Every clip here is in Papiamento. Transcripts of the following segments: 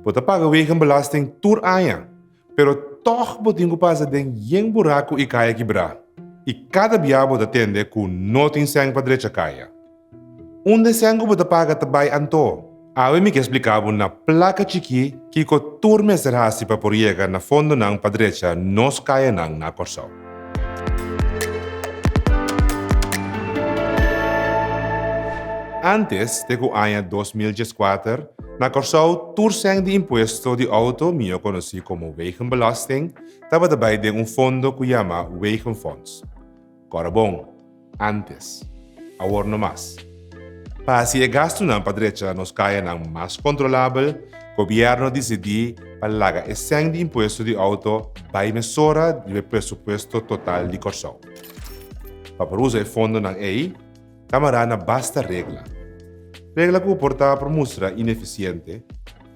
Bo ta paga wegenbelasting tur aña, pero tòg bo tin ku pasa den yen buraku i kaya kibrá, i kada bia bo ta tende ku no tin sèn pa drecha kaya. Un den sèn ku bo ta paga ta bai anto. Awe mi ke spliká bo na plaka chikí kiko tur mester hasi pa por yega na fondonan pa drecha nos kayanan na Kòrsou. Antes te ku aña dos mil dieskuater, na Kòrsou tur sèn di impuesto di outo, mihó konosí komo wegenbelasting, tabata bai den un fondo ku yama Wegenfonds. Kòrabon. antes, awor no mas. Pa hasi e gastunan pa drecha nos kayanan mas kontrolabel, gobièrnu a disidí pa laga esèn di impuesto di outo bai mesora riba e presupuesto total di Kòrsou. Pa por usa e fondonan ei, Kamará na basta regla. Regla ku por ta por mustra inefisiente.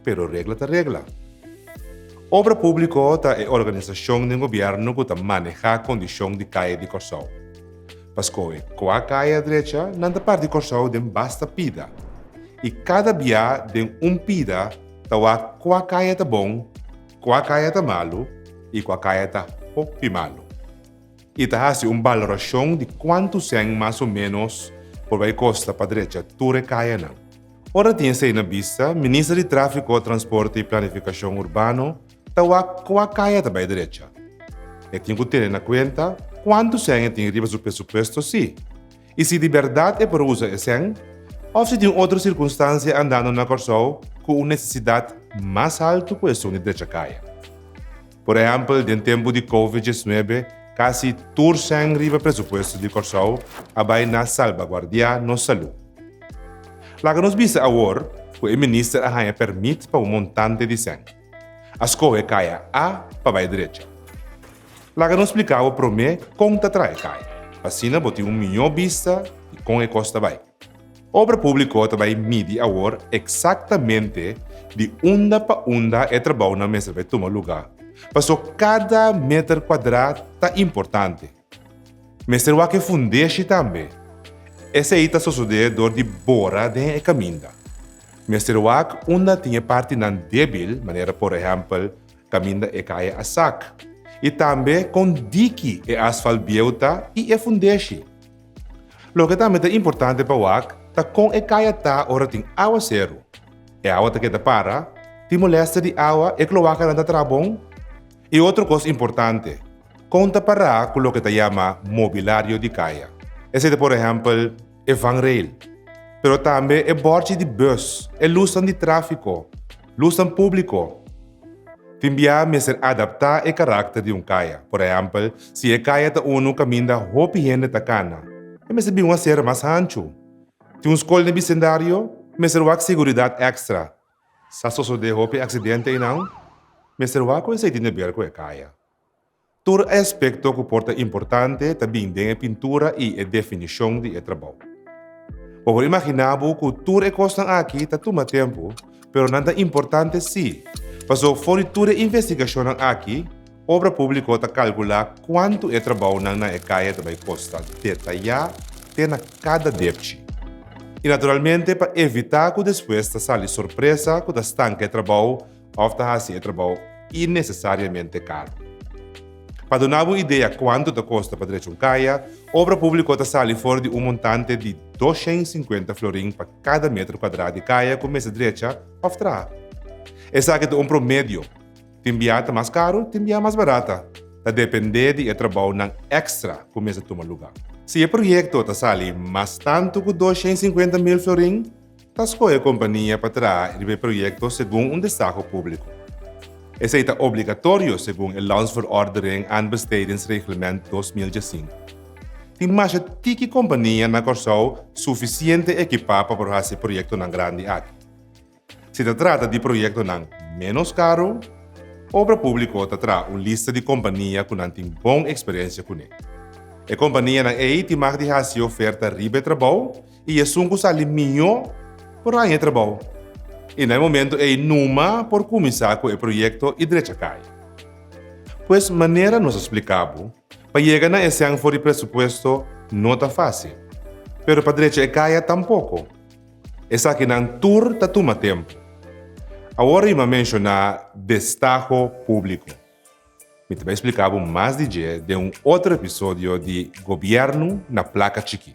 pero regla ta regla. Obra Públiko ta e organisashon den gobièrnu ku ta manehá kondishon di kaya di Kòrsou. Pa skohe kua kaya drecha nan ta par di Kòrsou den basta pida i kada biá den un pida ta wak kua kaya ta bon, kua kaya ta malu i kua kaya ta hopi malu. I ta hasi un balorashon di kuantu sèn mas o ménos por bai kosta pa drecha tur e kayanan. Ora tin esei na bista, Minister di Tráfiko, Transporte i Planifikashon Urbano ta wak kua kaya ta bai derecha. E tin ku tene na kuenta kuantu sèn e tin riba su presupuesto sí, i si di bèrdat e por usa e sèn, òf si tin otro sirkunstansia andando na Kòrsou ku un nesesidat mas haltu ku esun di drecha kaya. Por ehèmpel, den tempu di Covid diesnuebe, kasi tur sèn riba presupuesto di Kòrsou a bai na salbaguardiá nos salú. Laga nos bisa awor ku e minister a haña pèrmit pa un montante di sèn. A skohe kaya A pa bai drecha. Laga nos splika bo promé kon ta traha e kaya, pa asina bo tin un mihó bista di kon e kos ta bai. Obra públiko ta bai midi awor eksaktamente di unda pa unda e trabounan mester bai tuma lugá. Pasó kada meter kuadrá ta importante. Mester wak e fundeshi tambe. Esei ta sosodé dor di bora den e kaminda. Mester wak unda tin e partinan débil, manera por ehèmpel kaminda e kaya Asak, i tambe kon diki e asfalt bieu ta i e fundeshi. Loke tambe ta importante pa wak ta kon e kaya ta ora tin awa seru. E awa ta keda para? Tin molèstia di awa? E kloakanan ta traha bon? I otro kos importante, kon ta pará ku loke ta yama mobilario di kaya? Esei ta por ehèmpel e vanrail, pero tambe e bòrchi di bùs, e lusnan di tráfiko, Lusnan públiko. Tin biaha mester adaptá e karakter di un kaya. Por ehèmpel, si e kaya ta unu kaminda hopi hende ta kana, e mester bin un asera mas hanchu. Tin un skol den e bisendario, mester wak seguridat èkstra. Sa sosodé hopi aksidente einan, mester wak ku esei tin deber ku e kaya. Tur e aspekto ku por ta importante ta bin den e pintura i e definishon di e trabou. Bo por imaginá bo ku tur e kosnan akí ta tuma tempu, pero nan ta importante sí, pasó for di tur e investigashonnan akí, Obra Públiko ta kalkulá kuantu e trabounan na e kaya ta bai kosta detayá te na kada depchi. I naturalmente pa evitá ku despues ta sali sorpresa ku ta stanka e trabou òf ta hasi e trabou innesesariamente karo. Pa duna bo idea kuantu ta kosta pa drecha un kaya, obra públiko ta sali for di un montante di doshen i sinkuenta florin pa kada metro kuadrá di kaya ku mester drecha òf traha. Esaki ta un promedio, tin biaha ta mas karo, tin biaha mas barata, ta dependé di e trabounan èkstra ku mester tuma lugá. Si e proyekto ta sali mas tantu ku doshen i sinkuenta mil florin, Ta skohe kompania pa traha riba e proyekto segun un desaho públiko. Esei ta obligatorio segun e Landsverordening en Bestedingsreglement dos mil djasinku. Tin masha tiki kompania na Kòrsou sufisiente ekipá pa por hasi proyektonan grandi aki. Si ta trata di proyektonan ménos karu, Obra Públiko ta traha un lista di kompania ku nan tin bon eksperensia kuné. E kompanianan ei tin mag di hasi oferta riba e trabou i esun ku sali mihó por haña e trabou. I na e momentu ei Numa por kuminsá ku e proyekto i drecha kai. Pues manera nos a spliká bo, pa yega na esèn for di presupuesto no ta fásil, pero pa drecha e kaya tampoko. Esakinan tur ta tuma tempu. Awor Rima a menshoná destaho públiko. Mi ta bai spliká bo mas di dje den un otro episodio di Gobièrnu na Plaka Chikí.